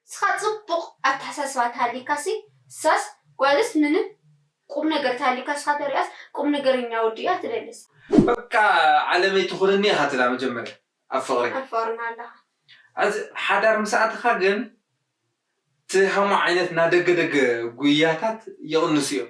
ንስኻ ጽቡቅ ኣተሓሳስባ ተሃልይካሲ ንሳስ ጓልስ ምንም ቁምነገር ተሃልዩካ ንስኻ ተሪኣስ ቁምነገርኛ ወዲ እያ ትደልስ። በቃ ዓለመይ ትኹንኒ ኢኻ ትብላ መጀመርያ ኣብ ፍቅሪ። ኣብ ፍቅርና ኣለኻ። ኣዚ ሓዳር ምስ ኣተኻ ግን ትሃሞ ዓይነት ናደገደገ ጉያታት ይቅንሱ እዮም።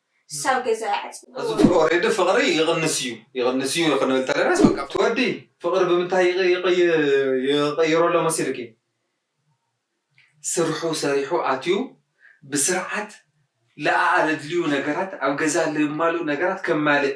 ሳብ ገዛ ይዓጽዎ። እዚ ቱር ኦሬዲ ፍቅሪ ይቅንስ እዩ ይቅንስ እዩ ክንብል ተለናስ በቃ ኣብቲ ወዲ ፍቅሪ ብምንታይ ይቅይሮ ኣሎ መሲልኪ ስርሑ ሰሪሑ ኣትዩ ብስርዓት ለኣኣለድልዩ ነገራት ኣብ ገዛ ለማልኡ ነገራት ከማልእ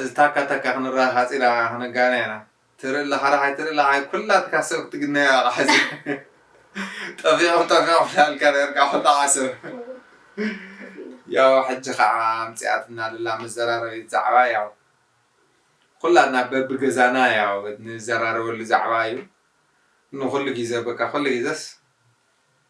እዚ ታካ ታካ ክንራክ ሓጺራ ከኣ ክንጋነ ኢና ትርኢ ላሓራሓይ ትርኢ ላሓይ ኩላትካ ሰብ ክትግነዮ ኣቃ ሕዚ ጠፊኦም ጠፊኦም ላልካ ነርካ ሕጣዓ ሰብ ያው ሕጂ ከኣ ኣምጺኣትና ልላ መዘራረቢት ዛዕባ ያው ኩላትና በቢ ገዛና ያው ንዘራረበሉ ዛዕባ እዩ ንኩሉ ጊዘ በቃ ኩሉ ጊዘስ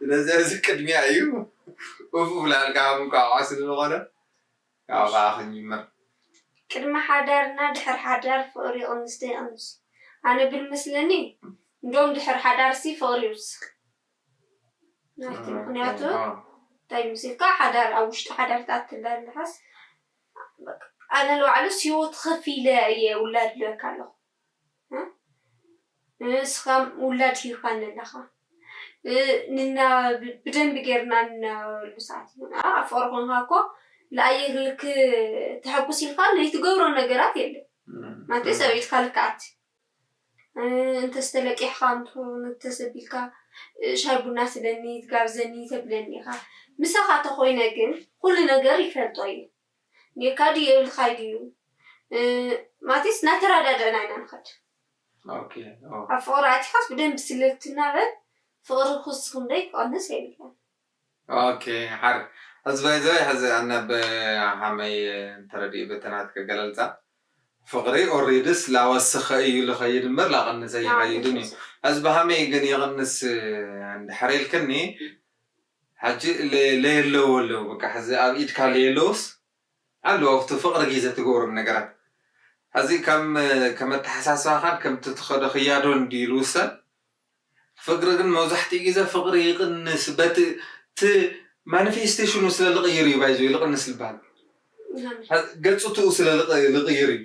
ስለዚሕዚ ቅድሚያ እዩ ኡፍ እብለልካ ኣብ እንቋቑሖ ስለዝኾነ ካብኡ ከኣ ክንጅምር። ቅድሚ ሓዳር እና ድሕሪ ሓዳር ፍቅሪ ይቅንስ ዶ ይቅንስ ኣነ ብልመስለኒ እንዶም ድሕሪ ሓዳር ሲ ፍቅሪ ይውስክ ናይቲ ምክንያቱ እንታይ ምስልካ ሓዳር ኣብ ውሽጢ ሓዳር ትኣቲ እንዳለካስ ኣነ ንባዕሉስ ሂወት ከፊለ እየ ውላድ ልበካ ኣለኩ እስኻ ውላድ ሂብካኒ ኣለኻ ንነባበ ብደንቢ ጌርና ንነባበረሉ ሰዓት እዩ ዝመጸ ኣብ ፍቅሪ ኮንካ እኮ ንኣየር ልክ ተሐጉስ ኢልካ ዘይትገብሮ ነገራት የለን ማለተ ሰበይትካ ልክ ኣቲ እንተዝተለቂሕካ እንትከዉን እንተዘቢልካ ሻሂ ቡና ስደኒ ትጋብዘኒ ተብለኒ ኢኻ ምሳኻ ተኾይነ ግን ኩሉ ነገር ይፈልጦ እየ። ጌርካ ድዩ የብልካይ ድዩ ማለትስ እናተራዳዳእና ኢና ንኸድ ኣብ ፍቕሪ ኣቲኻስ ብደንቢ ስለትናበብ ፍቕሪ ክውስኽ እምበይ ክቕንስ የብሉን። ኦኬ ሓር ሕዚ ባይዘወይ ሕዚ ኣነ ብ ሃመይ ተረዲኡ በቲ ናትኪ ኣገላልጻ ፍቕሪ ኦሪድስ ላወስኸ እዩ ልኸይድ እምበር ላቐንስ ኣይኸይድን እዩ ሕዚ ብሃመይ ግን ይቕንስ እንድሕር ኢልክኒ ሐጂ ለየለዉ ኣለዉ በቃ ሐዚ ኣብ ኢድካ ለየለዉስ ኣሎ ኦፍቲ ፍቅሪ ጊዘ ትገብሮም ነገራት ሐዚ ከም ከም ኣተሐሳስባካን ከምቲ ትከዶ ክያዶን ድዩ ልዉሰን ፍቅሪ ግን መብዛሕቲኡ ጊዘ ፍቅሪ ይቅንስ በቲ እቲ ማንፌስቴሽኑ ስለ ልቅይር እዩ ባይዘወይ ልቅንስ ልባሃል ገጽትኡ ስለ ልቅይር እዩ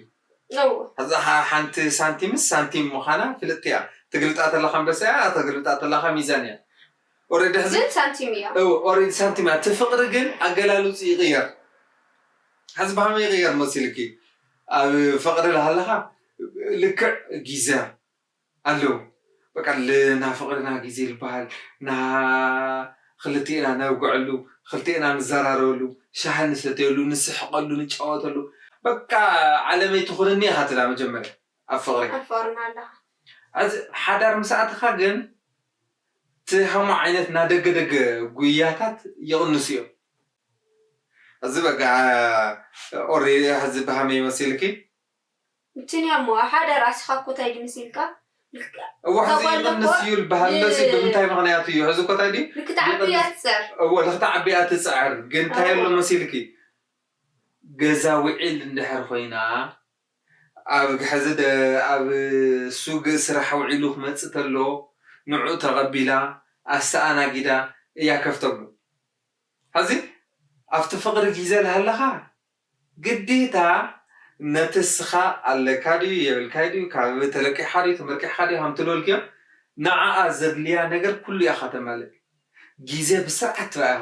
ሐዚ ሐንቲ ሳንቲምስ ሳንቲም ምካና ፍልጥቲ እያ ትግልጣ ተለካ ኣንበሳ እያ ተግልብጣ ተለካ ሚዛን እያ። ኦሬዲ ሕዚ ግን ሳንቲም እያ። እወ ኦሬዲ ሳንቲም እያ እቲ ፍቅሪ ግን ኣገላልጹ ይቅየር ሕዚ ብከመይ ይቅየር መሲልኪ ኣብ ፍቅሪ ላሃለካ ልክዕ ጊዘ ኣለው በቃ ልናፍቅርና ጊዜ ልባሃል ና ክልቴና ነብገዐሉ ክልቴና ንዛራረበሉ ሻሂ ንሰተየሉ ንስሕቀሉ ንጫወተሉ በቃ ዓለመይ ትኩንኒ ኢካ ትብላ መጀመርያ ኣብ ፍቅሪ። ኣብ ፍቅሪ ናሃለካ። ሕዚ ሓዳር ምስ ኣተካ ግን እቲ ሃሞ ዓይነት እና ደገ ደገ ጉያታት ይቕንሱ እዮም። እዚ በቃ ኦሪ ሐዚ ብሃመይ መሲልኪ። እንትን እያ እሞ ሓደ ራእስኻ እኮ ታይ ድዩ መሲልካ እወ ሐዚ ይቕንስ እዩ ልበሃልሎ ሲ ብምንታይ ምኽንያት እዩ ሐዚ እኮ ታይ ድዩ ንክትዓቢ እያ ትፅዕር እወ ልክትዓቢ እያ ትፅዕር ግን ታይ ኣሎ መሲልኪ ገዛ ዊዒል እንድሕር ኾይና ኣብ ሐዚ ዶ ኣብ ሱግ ስራሕ ውዒሉ ክመፅእ ተሎ ንዑ ተቀቢላ ኣስተኣናጊዳ እያ ከፍ ተብሉ ሐዚ ኣብቲ ፍቅሪ ጊዘ ላሃለኻ ግዴታ ነቲ እስኻ ኣለካ ድዩ የብልካይ ድዩ ካብ ተለቂሓ ድዩ ተመርቂሕኻ ድዩ ሃምቱ ዶልክዮ ንዓኣ ዘድልያ ነገር ኩሉ እያ ከተማልእ ጊዘ ብስርዓት ትረኣኻ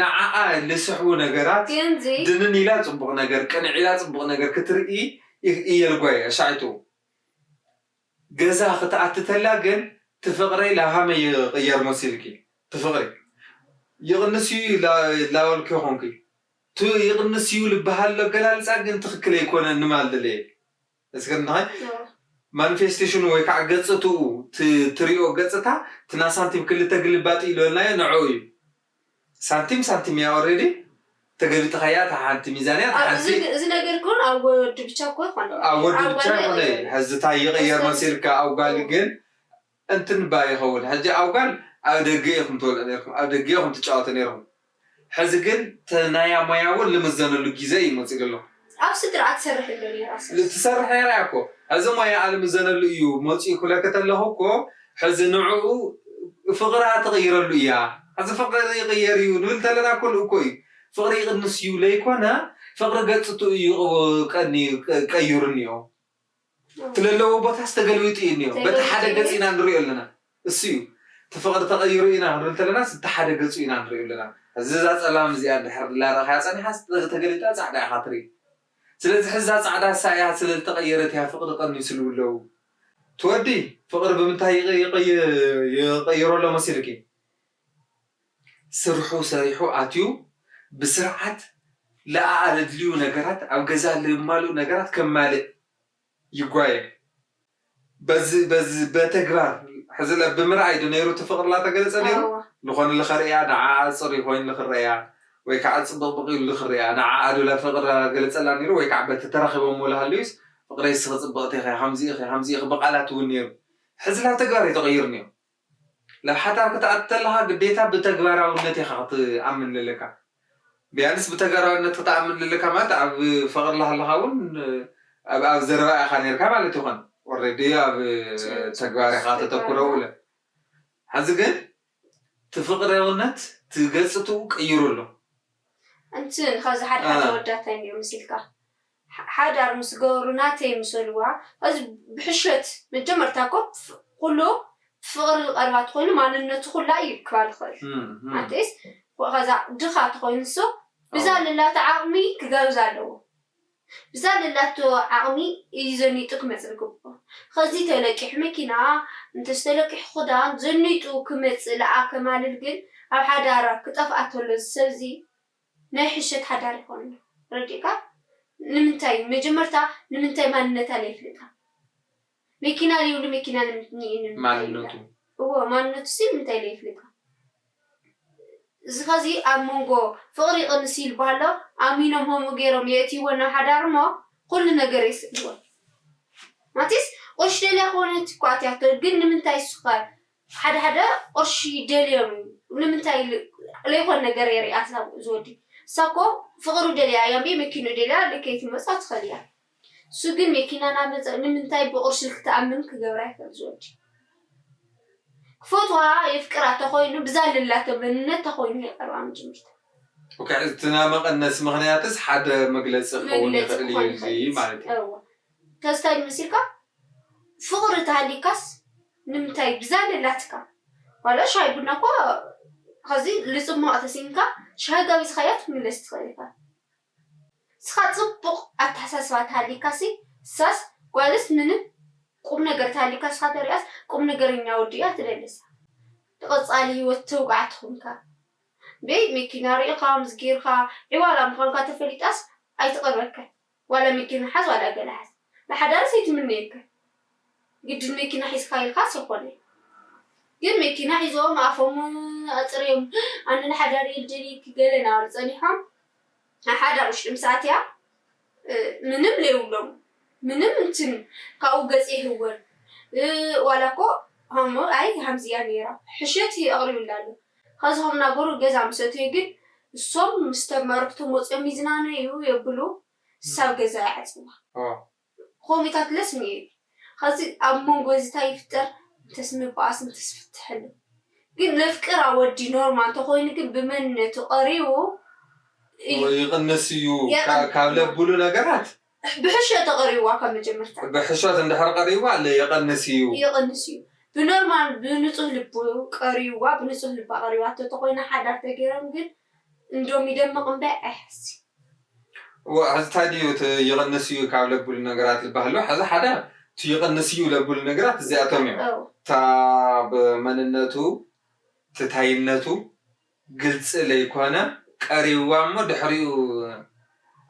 ንዓኣ ልስሕቡ ነገራት ድንን ኢላ ፅቡቕ ነገር፣ ቅንዕ ኢላ ፅቡቕ ነገር ክትርኢ እየልጓ እያ። ሻይቶ ገዛ ክትኣቲ ተላ ግን ትፍቕረይ ላሃመ ይቕየር መሲልኪ ትፍቕሪ ይቕንስ እዩ ላበልኪ ኮንኪ። እቲ ይቕንስ እዩ ልበሃልሉ ኣገላልፃ ግን ትኽክል ኣይኮነን ንማል ደለየ። እዚ ግን እንታይ ማንፌስቴሽኑ ወይ ካዓ ገጽትኡ እቲ ትሪኦ ገጽታ እቲ ናይ ሳንቲም ክልተ ግልባጥ እዩ ልበልናዮ ንዕኡ እዩ ሳንቲም ሳንቲም እያ ኦሬዲ ተገሊጥኻያ እታ ሓንቲ ሚዛን እያ እታ ሓንቲ ኣብ እዚ ነገር እኮ ኣብ ወዲ ብቻ እኮ ኣይኮነን ኣብ ወዲ ብቻ ኣይኮነይ ሐዚ እታይ ይቅየር መሲልካ ኣብ ጋል ግን እንትንባ ይኸውን ሕጂ ኣብ ጋል ኣብ ደገ ኢኹም ትበልዑ ኔርኩም ኣብ ደገ ኢኹም ትጫወቱ ኔርኹም ሕዚ ግን ተናያ ሞያ ውን ልምዘነሉ ጊዘ እዩ መጺኡ ኣሎ ኣብ ስድራኣ ትሰርሕ እሎ ኔራ ሰስ። ትሰርሕ ኔራ እያ እኮ ሕዚ ሞያኣ ልምዘነሉ እዩ መጺኡ ክብለኪ ተለኹ እኮ ሕዚ ንዑኡ ፍቅራ ትቅይረሉ እያ ሕዚ ፍቅሪ ይቅየር እዩ ንብል ተለና እኮ ልእኮ እዩ ፍቅሪ ይቅንስ እዩ ለይኮነ ፍቅሪ ገጽቱ እዩ ቀንዩ ቀይሩ እኒኦ ለለዎ ቦታስ ተገልቢጡ እዩ እኒኦ። በቲ ሓደ ገፅ ኢና ንሪኦ ኣለና። እሱ እዩ። እቲ ፍቕሪ ተቐይሩ ኢና ክንብል እንተለናስ እቲ ሓደ ገፁ ኢና ንሪኦ ኣለና። ሕዚ እዛ ፀላም እዚኣ እንድሕር እናረኣኻያ ፀኒሓስ ተገሊጣ ፃዕዳ ኢኻ ትርኢ። ስለዚ ሕዚ እዛ ፃዕዳ እሳ እያ ስለልተቐየረት እያ ፍቕሪ ቀኒሱ ልብሉ ኣለዉ። እቲ ወዲ ፍቕሪ ብምንታይ ይቕይሮ ኣሎ መሲሉኪ? ስርሑ ሰሪሑ ኣትዩ ብስርዓት ልኣኣ ለድልዩ ነገራት ኣብ ገዛ ልማልኡ ነገራት ከማልእ ይጓየ በዚ በዚ በተግባር ሕዚለ ብምርኣይ ዶ ነይሩ እቲ ፍቕሪ ላተገለጸ ነይሩ ልኾነ ልኸርእያ ንዓኣ ጽሪ ኮይኑ ልኽረያ ወይ ካዓ ጽብቕብቕ ኢሉ ልኽርያ ንዓኣ ዶ ላፍቕሪ ላገለጸላ ነይሩ ወይ ካዓ በቲ ተራኺቦሞ ልሃለዩስ ፍቕረይ እስኺ ጽብቕቲ ኢኺ ሃምዚ ኢኺ ሃምዚ ኢኺ ብቃላት እውን ነይሩ ሕዚ ላተግባር እዩ ተቐይሩ ኒኦ ናብ ሓታር ክትኣቱ ተለኻ ግዴታ ብተግባራውነት ኢኻ ክትኣምን ለለካ ቢያንስ ብተጋራውነት ክትኣምን ለለካ ማለት ኣብ ፍቅሪ ላሃለኻ ውን ኣብ ኣብ ዘረባ ኢኻ ነርካ ማለት ይኾን ኦረዲ ኣብ ተግባር ኢኻ ተተኩረው እለ ሐዚ ግን እቲ ፍቅረውነት እቲ ገጽትኡ ቀይሩ ኣሎ። ኣንት ኸዚ ሓደ ሓደ ኣወዳት ታይ ኔሩ መሲልካ ሓዳር ምስ ገበሩ ናተይ ምሰልዋ እዚ ብሕሾት መጀመርታ እኮ ኩሉ ፍቅሪ ቀረባ ተኮይኑ ማንነቱ ኩላ እዩ ክባል ይክእል ናተይስ ከዛ ድካ ተኮይኑ እሱ ብዛ ልላቶ ዓቅሚ ክገብዛ ኣለዎ ብዛ ልላቶ ዓቅሚ እዩ ዘኒጡ ክመጽ ልግብኦ ከዚ ተለቂሑ መኪና እንተስ ተለቂሑ ክዳን ዘኒጡ ክመጽ ልኣ ከማልል ግን ኣብ ሓዳራ ክጠፍኣ ተሎ እዚ ሰብ እዚ ናይ ሕሸት ሓዳር ይኾንና ረዲእካ ንምንታይ መጀመርታ ንምንታይ ማንነታ ለይፍልጣ መኪና ልይብሉ መኪና ንምንትይ ንምንታይ ይብላ እወ ማንነቱሲ ንምንታይ ለይፍልጣ እዚ ኸዚ ኣብ መንጎ ፍቅሪ ይቅንስ እዩ ልባሃል ኣሎ ኣሚኖም ሆምኡ ገይሮም የእትይወን ናብ ሓዳር እሞ ኹሉ ነገር የስእንወን ማቲስ ቁርሽ ደልያ ኾነት እኮ ኣትያቶ ግን ንምንታይ እሱኸ ሓደ ሓደ ቕርሺ ደልዮም እዩ ንምንታይ ለይኮን ነገር የሪኣትና ኣብኡ ዝወዲ እሳ እኮ ፍቅሩ ደልያ ኣያ እምቢ መኪንኡ ደልያ ልከይትመጾ ትክእል እያ እሱ ግን መኪና ናመጸ ንምንታይ ብቅርሺ ክትኣምን ክገብራ ይክእል ዝወዲ ክፈትዋ የፍቅራ ተኮይኑ ብዛ ለላቶ መንነት ተኮይኑ የቀርባ ምጅምርታ ኦከ እቲ ናይ መቀነሲ ምክንያትስ ሓደ መግለጺ ክከውን መግለጺ ይክእል ክኮን እዩ እዚ ይክእል ማለት እዩ እወ ተዝታይ መሲልካ ፍቅሪ ተሃልይካስ ንምንታይ ብዛ ደላትካ ዋላ ሻሂ ቡና እኮ ኸዚ ልጽማቕ ተሲእንካ ሻሂ ጋቢዝኻያ ክትምለስ ትኽእል ኢኻ ንስኻ ጽቡቕ ኣተሓሳስባ ተሃልይካሲ ንሳስ ጓልስ ምንም ቁምነገር ተሃልይካ ንስኻ ተሪኣስ ቁምነገረኛ ወዲ እያ ትደልስ ንቐጻሊ ሂወት ተውቃዕ ትኹንካ እምበይ መኪና ሪኢኻ ምስጌርካ ዒዋላ ምዃንካ ተፈሊጣስ ኣይትቐርበካን ዋላ መኪና ሓዝ ዋላ ገለ ሓዝ ንሓዳርስ ኣይትምነየካይ ግድን መኪና ሒዝካ ኢልካስ ኣይኮነይ ግን መኪና ሒዞም ኣፎም ኣጽርዮም ኣነ ንሓዳር እየ ልደልየኪ ገለ ናበሉ ጸኒሖም ኣብ ሓዳር ውሽጢ ምስ ኣትያ ምንም ለይብሎም ምንም እንትን ካብኡ ገጽ ይህወን ዋላ እኮ ሃሞ ኣይ ሃምዚ እያ ነይራ ሕሸት ኣቕሪቡላ ኣሎ ኸዝኹም ነበሩ ገዛ ምስ ኣተዩ ግን እሶም ምስ ተመርክቶም ወጽዮም ይዝናነዩ የብሉ ሳብ ገዛ ይዓጽዋ ኾሚታት ለስ ምይል ኸዚ ኣብ መንጎ እዚ ታይ ይፍጠር እንተስ ንባኣስ እንተስ ፍትሕ ኣሎ ግን ነፍቅር ኣወዲ ኖርማ እንተኾይኑ ግን ብመንነቱ ቀሪቡ እዩ ይቕንስ እዩ ካብ ለብሉ ነገራት ብሕሾ ተቐሪቡዋ ካብ መጀመርታ። ብሕሾት እንድሕር ቐሪቡዋ ለ ይቕንስ እዩ። ይቕንስ እዩ። ብኖርማል ብንጹህ ልቡ ቀሪቡዋ ብንጹህ ልባ ቐሪባቶ ተኾይና ሓዳር ተገይሮም ግን እንዶም ይደምቕ እምበይ ኣይሕስይ። እወ ሕዚ ታይ ድዩ እቲ ይቕንስ እዩ ካብ ለብሉ ነገራት ልባሃል ዶ ሕዚ ሓዳር እቲ ይቕንስ እዩ ለብሉ ነገራት እዚኣቶም እዮም። እታ ብ መንነቱ እቲ ታይነቱ ግልጺ ለይኮነ ቀሪብዋ እሞ ድሕሪኡ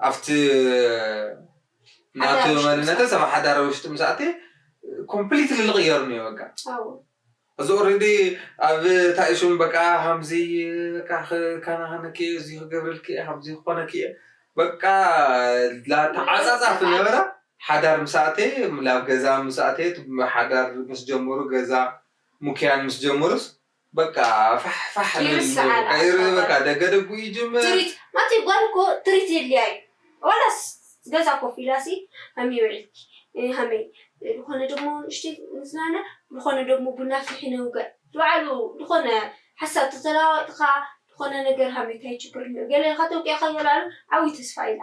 ኣብቲ ናቱ መንነትስ ኣብ ሓዳር ውሽጢ ምስ ኣትየ ኮምፕሊትሊ ልቕየር እኒኦ በቃ እዚ ኦረዲ ኣብ ታይ ሹም በቃ ሃምዚ በቃ ክከናኸነኪ እየ እዚ ክገብረልኪ እየ ሃምዚ ክኾነኪ እየ በቃ ተዓጻጻፊ ነበረ ሓዳር ምስ ኣተየ ላብ ገዛ ምስ ኣተየ ሓዳር ምስ ጀመሩ ገዛ ሙክያን ምስ ጀመሩስ በቃ ፋሕ ፋሕ ንብል ይርስዓ እሞ ኣላ ከይርህ ኣባባ በቃ ደገ ደጉኡ ይጅምር። ትሪት ኣቲ ጓል እኮ ትሪት የድልያ እዩ ዋላስ ገዛ ኮፍ ኢላ ሲ ሃምየ ውዒልኪ እ ሃመይ ድኾነ ደሞ ንእሽተይ ንዝናነ ድኾነ ደሞ ቡና ኣፍልሒ ነውግዕ ዝባዓሉ ድኾነ ሓሳብ ተተላዋወጥካ ድኾነ ነገር ሃምዩ ታይ ችግር እኒኦ ገለ ኢልካ ተውቂዕካ ይበላሉ ዓብይ ተስፋ ኢላ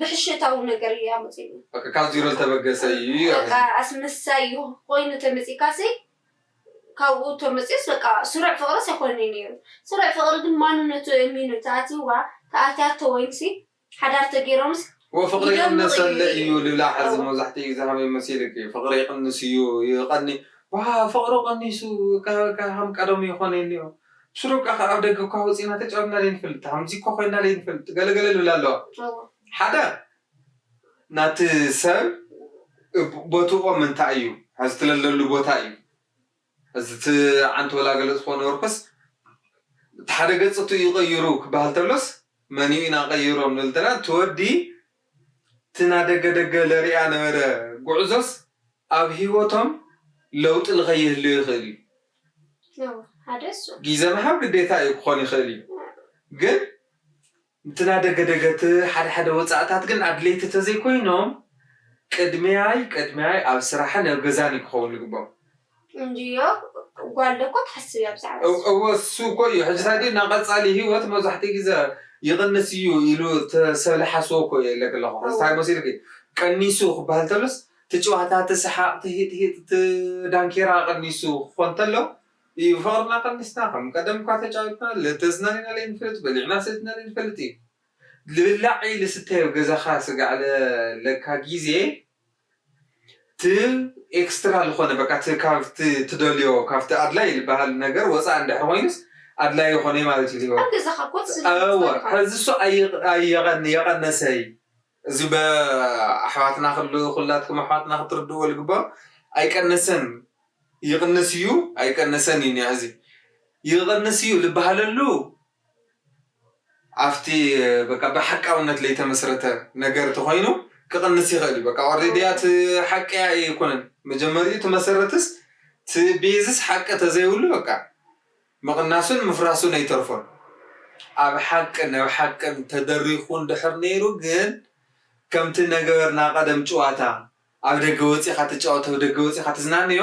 ብሕሸታዊ ነገር እዩ ኣመጺኡኒ። በቃ ካብ ዚሮ ዝተበገሰ እዩ እዩ በቃ ኣሕዚ። ኣስመሳይ እዩ ኮይኑ ተመጺእካሲ ካብኡ ተመጺኡስ በቃ ስሩዕ ፍቅርስ ኣይኮነን እዩ ነይሩ። ስሩዕ ፍቅሪ ግን ማንነቱ ኣእሚኑ ተኣትይዋ ተኣትያቶ ወይንሲ ሓዳር ተገይሮምስ ኡፍ ፍቅሪ ይደምቅ እዩ ይቅንሰለ እዩ እዩ ልብላ ሕዚ እወ። መብዛሕትኡ ግዜ ከመይ መሲልኪ ፍቅሪ ይቅንስ እዩ ይቀኒ ዋው ፍቅሪ ቀኒሱ ከ ከም ቀደሙ ይኮን የልዮ ሽሮ እካ ካብ ደገ እኳ ኣውጺእና ተጫዊትና ለይንፈልጥ ከምዚ እኳ ኮይንና ለይንፈልጥ ገለ ገለ ልብላ ኣለዋ ሓደ ናቲ ሰብ ቦትቆም እንታይ እዩ ሕዚ ትለለሉ ቦታ እዩ እዚ እቲ ዓንት ወላ ገለ ዝኮነ ወርኩስ እቲ ሓደ ገጽ እቱ እዩ ቀይሩ ክበሃል ተሎስ መን እዩ ኢና ቀይሮ ንብል ተለና እቲ ወዲ እቲ ናደገ ደገ ለርኣ ነበረ ጉዕዞስ ኣብ ሂወቶም ለውጢ ልከይህልዮ ይክእል እዩ ጊዘ ምሃብ ግዴታ እዩ ክኮን ይክእል እዩ ግን እቲ ናደገ ደገ እቲ ሓደ ሓደ ወፃእታት ግን ኣድለይቲ ተዘይኮይኖም ቅድምያይ ቅድምያይ ኣብ ስራሕን ኣብ ገዛን እዩ ክከውን ልግቦም እንድዮ ጓል ዶ እኮ ትሓስብ እያ ብዛዕባ እሱ። እወ እሱ እኮ እዩ ሕጂ ታዲ ናቀጻሊ ሂወት መብዛሕትኡ ግዘ ይቅንስ እዩ ኢሉ ሰብ ልሓስቦ እኮ እየ እለኪ ኣለኩ ሕዚ ታይ መሲልኪ ቀኒሱ ክባሃል ተሎስ እቲ ጭዋታ እቲ ስሓቅ እቲ ሂጥ ሂጥ እቲ ዳንኬራ ቀኒሱ ክኮን ተሎ እዩ ፍቅርና ቀኒስና ከም ቀደም እኳ ተጫዊትና ልተዝናነ ኢና ለይንፈልጥ በሊዕና ሰቲና ለይንፈልጥ እዩ ልብላዕ እዪ ልስተ እዪ ኣብ ገዛካ ስጋዕ ለካ ግዜ እቲ ኤክስትራ ልኾነ በቃ እቲ ካብቲ ትደልዮ ካብቲ ኣድላይ ልበሃል ነገር ወጻኢ እንድሕር ኮይኑስ ኣድላይ ይኾነይ ማለት እዩ ልሂወት። ኣብ ገዛኻ ኮፍ ዝብል ቦታ እወ ዲኻ? ሕዚ እሱ ኣይቕ ኣይቐን የቐነሰይ እዚ በ ኣሕዋትና ክሉ ኩላትኩም ኣሕዋትና ክትርድእዎ ልግበኦ ኣይቀነሰን ይቕንስ እዩ ኣይቀነሰን እዩ ኒሕዚ ይቕንስ እዩ ልበሃለሉ ኣብቲ በቃ ብሓቃውነት ለይተመስረተ ነገር ተኾይኑ ክቕንስ ይኽእል እዩ በቃ ኦሬዲ እያ እቲ ሓቂ እያ ኣይኮነን መጀመሪኡ እቲ መሰረትስ እቲ ቤዝስ ሓቂ ተዘይብሉ በቃ ምቕናሱን ምፍራሱን ኣይተርፎን ኣብ ሓቅን ኣብ ሓቅን ተደሪኹ እንድሕር ነይሩ ግን ከምቲ ነገርና ቀደም ጭዋታ ኣብ ደገ ወፂኻ ትጫወት ኣብ ደገ ወፂኻ ትዝናነዮ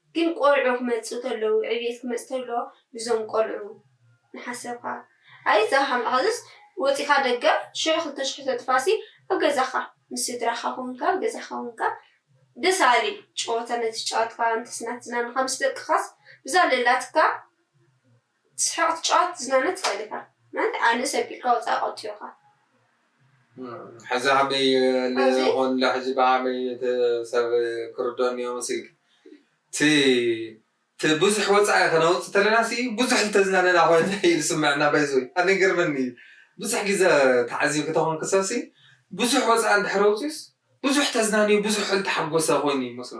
ግን ቆልዑ ክመጽኡ ተለዉ ዕብየት ክመጽ ተሎ ብዞም ቆልዑ ምሓሰብካ ኣይ እዛ ሓም ሐዝስ ወጺካ ደገ ሽሕ ክልተ ሽሕ ተጥፋሲ ኣብ ገዛካ ምስ ስድራካ ኮንካ ኣብ ገዛካ ኮንካ ደስ ኣሊ ጨወታ ነተጫወትካ ኣንተስ ናትዝናንካ ምስ ደቅካስ ብዛለላትካ ትስሕቅ ትጫወት ትዝናነ ትክእል ኢካ ማለት ኣነ ሰብ ቢልካ ወጻኢ ቀትዮካ። ሕዚ ሃመይ ኣለ ኮን እለ ሕጂ ብሃመይ እቲ ሰብ ክርዶኒ እዮ መስልኪ እቲ እቲ ብዙሕ ወጻኢ ከነውጽ ተለና ሲ ብዙሕ ልተዝናነና ኮን እዩ ልስመዐና ባይዘወይ ኣነ ይገርመኒ እዩ ብዙሕ ግዘ ተዓዚብኪ ተኮንኪ ሰብ ሲ ብዙሕ ወጻኢ እንድሕር ኣውጽኡስ ብዙሕ ተዝናንዩ ብዙሕ ልተሓጎሰ ኮይኑ እዩ መስሎ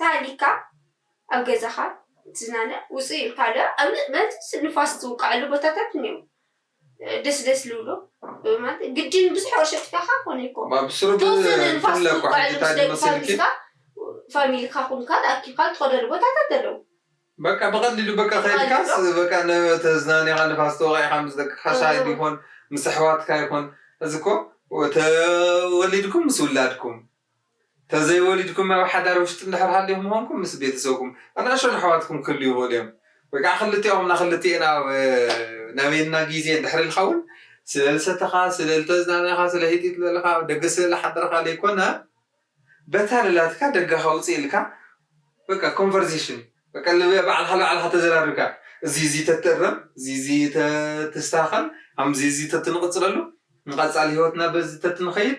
ተሃሊካ ኣብ ገዛኻ እትዝናነ ውጽእ ኢልካ ዶ ኣብ መዚ ንፋስ ዝውቀዐሉ ቦታታት እንየዉ ደስ ደስ ልብሉ ማለት ግድን ብዙሕ ወርሒ ኣጥፊኣኻ ኮነ ኣይኮ ተወሰነ ንፋስ ዝውቀዐሉ ምስ ደቅኻ ምስካ ፋሚልካ ኩንካ ተኣኪብካ ትኸደሉ ቦታታት ኣለዉ። በቃ ብቀሊሉ በቃ ከይድካስ በቃ ተዝናንኻ ንፋስ ተወቂዕካ ምስ ደቅኻ ሻሂ ይኹን ምስ ኣሕዋትካ ይኹን እዚ እኮ ተወሊድኩም ምስ ውላድኩም ተዘይ ወሊድኩም ኣብ ሓዳር ውሽጢ እንድሕር ሃሊኹም ኾንኩም ምስ ቤተሰብኩም ኣናእሽቶን ኣሕዋትኩም ክህልዩ ይኽእሉ እዮም ወይ ከዓ ክልቲኦም እና ክልቲኤን ኣብ ናበየና ግዜ እንድሕር ኢልካ እውን ስለ ልሰተኻ ስለ ልተዝናነኻ ስለ ሂጢጥ ልበልኻ ኣብ ደገ ስለ ልሓደርኻ ለይኮነ በታልላትካ ደገኻ ውፅእ ኢልካ በቃ ኮንቨርሴሽን በቃ ባዕልኻ ልባዕልኻ ተዘራሪብካ እዚ እዚ ተትእረም እዚ እዚ ተትስተኻኸል ከምዚ እዚ ተትንቕፅለሉ ንቐፃሊ ሂወትና በዚ ተትንኸይድ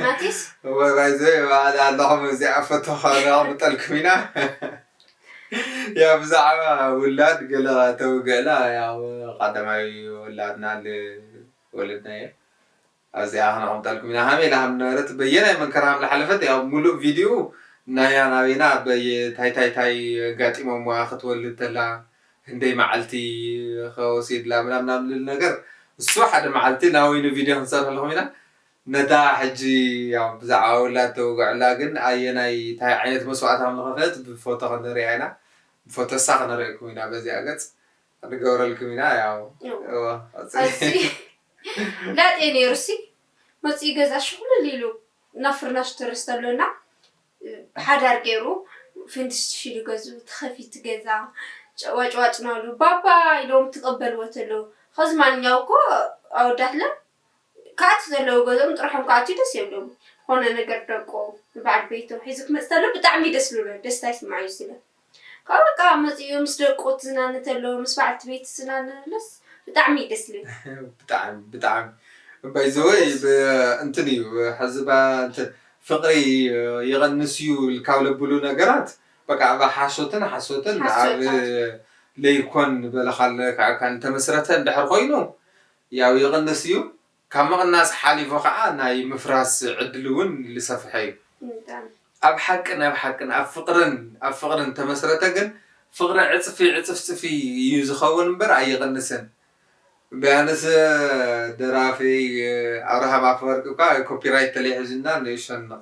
ናቲስ እወ ባይዘ ባዕላ ኣለኹም እዚኣ ፎቶ ከነቕምጠልኩም ኢና ያው ብዛዕባ ውላድ ገለ ተውግዕላ ያው ቀዳማይ ውላድና ወለድናዮ ኣብዚኣ ከነቕምጠልኩም ኢና ሃመይ ኢላ ከምነበረት በየናይ መንከራ ከም ዝሓለፈት ያው ሙሉእ ቪድዩ ናያ ናበይና በየ ታይታይታይ ኣጋጢሞምዋ ክትወልድ ተላ ክንደይ ማዓልቲ ከ ወሲድላ ምናምናም ልል ነገር እሱ ሓደ ማዓልቲ ናይ ወይኒ ቪድዮ ክንሰርሕልኩም ኢና ነታ ሕጂ ያው ብዛዕባ ውላድ ተውግዕላ ግን ኣየናይ ታይ ዓይነት መስዋእቲ ከም ዝከፈለት ብፎቶ ክንርያ ኢና ብፎቶ እሳ ክነርኤኩም ኢና በዚኣ ገጽ ክንገብረልኩም ኢና ያው እወ ቀጽሊ ላጤ ነይሩሲ መጺኡ ገዛ ሽኹልል ኢሉ ናብ ፍርናሽ ትርስ ተብሎ እና ብሓዳር ገይሩ ፍንትሽትሽ ኢሉ ገዝኡ ተኸፊቲ ገዛ ጨዋጭዋጭ ናብሉ ባባ ኢሎም ትቀበልዎ ተለው ኸዚ ማንኛው እኮ ኣወዳትና ክኣቲ ዘለው ገዝኦም ጥርሖም ክኣትዩ ደስ የብሎም ኾነ ነገር ደቆም ንባዓል ቤቶም ሒዙ ክመፅ ተሎ ብጣዕሚ ደስ ልብሎ ደስታ ይስማዓዩ ስለ ካባኡ ካኣ መጺኡ ምስ ደቁ ትዝናነ ተሎ ምስ ባዓልቲ ቤት ትዝናነ ተሎስ ብጣዕሚ እዩ ደስ ልብል። ብጣዕሚ ብጣዕሚ ባይ ዘ ወይ ብ እንትን እዩ ሐዚ ብ እንትን ፍቅሪ ይቅንስ እዩ ካብ ለብሉ ነገራት በቃ ኣብ ሓሶትን ሓሶትን ኣብ ሓሶታት። ለይኮን በለካል ክዕካል ተመስረተ እንድሕር ኮይኑ ያው ይቅንስ እዩ ካብ ምቕናስ ሓሊፉ ከኣ ናይ ምፍራስ ዕድሉ ውን ልሰፍሐ ዩ። ኣብ ሓቅን ኣብ ሓቅን ኣብ ፍቕርን ኣብ ፍቕርን ተመስረተ ግን ፍቕሪ ዕጽፊ ዕጽፍጽፊ ዩ ዝኸውን እምበር ኣይቕንስን። ቢያንስ ደራፊ ኣብርሃም ኣፈወርቂ እኳ ኮፒራይት ተለይ ሒዙና ንእሸንቕ።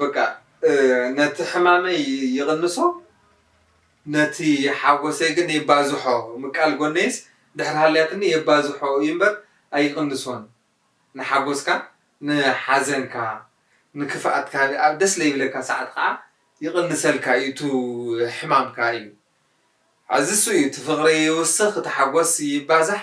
በቃ ነቲ ሕማመይ ይቕንሶ ነቲ ሓጎሰይ ግን የባዝሖ ምቃል ጎነይስ ድሕሪ ሃልያትኒ የባዝሖ እዩ እምበር ኣይቕንሶን ንሓጎስካ ንሓዘንካ ንክፍኣትካ ኣብ ደስ ለይብለካ ሰዓት ኸኣ ይቕንሰልካ እዩ እቱ ሕማምካ እዩ ሐዚ እሱ እዩ እቲ ፍቕሪ ይውስኽ እቲ ሓጎስ ይባዛሕ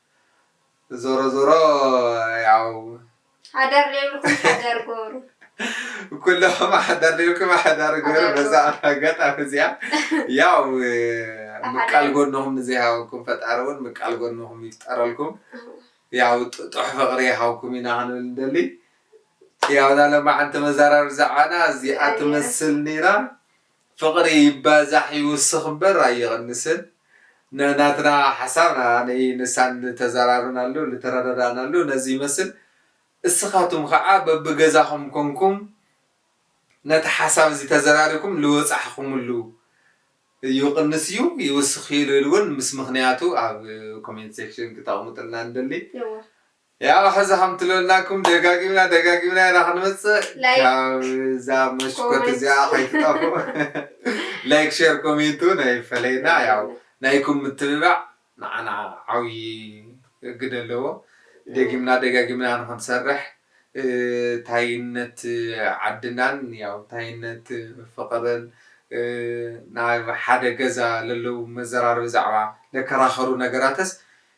ዞሮ ዞሮ ያው ሓዳር ዘይብልኩም ሓዳር ግበሩ። ኩለኹም ሓዳር ዘይብልኩም ሓዳር ግበሩ። በዛ ኣጋጣሚ እዚኣ ያው ምቃል ጎንኹም ንዘይሃበኩም ፈጣሪ እውን ምቃል ጎንኹም ይፍጠረልኩም። ያው ጥጡሕ ፍቕሪ ይሃብኩም ኢና ክንብል እንደሊ ያው ናለማዓንቲ መዘራረቢ ዛዕባና እዚኣ ትመስል ነይራ። ፍቅሪ ይባዛሕ ይውስኽ እበር ኣይቕንስን ን ናትና ሓሳብ ን ኣነይ ንሳን ልተዛራርብናሉ ልተረዳዳእናሉ ነዚ ይመስል እስኻቱም ኻዓ በቢ ገዛኹም ኮንኩም ነቲ ሓሳብ እዚ ተዘራሪኩም ልወጻሕኹምሉ ይቕንስ እዩ ይውስኽ እዩ ልብል ውን ምስ ምኽንያቱ ኣብ ኮሜንት ሴክሽን ክተቕምጥልና ንደሊ። ያው ሕዚ ከምትለናኩም ደጋጊምና ደጋጊምና ኢና ክንመፅእ ላይክ ካብዛ መሽኮት ኮሜንት እዚኣ ከይትጠፍኡ ላይክ ሼር ኮሜንት እውን ኣይፈለየና ያው ኣይፈለየና። ናይኩም ምትብባዕ ንዓና ዓብዪ ግደ ኣለዎ ደጊምና ደጋጊምና ንክንሰርሕ እ፣ ታይነት ዓድናን ያው ታይነት ፍቕርን እ፣ ናብ ሓደ ገዛ ለለው መዘራረቢ ዛዕባ ለከራኸሩ ነገራትስ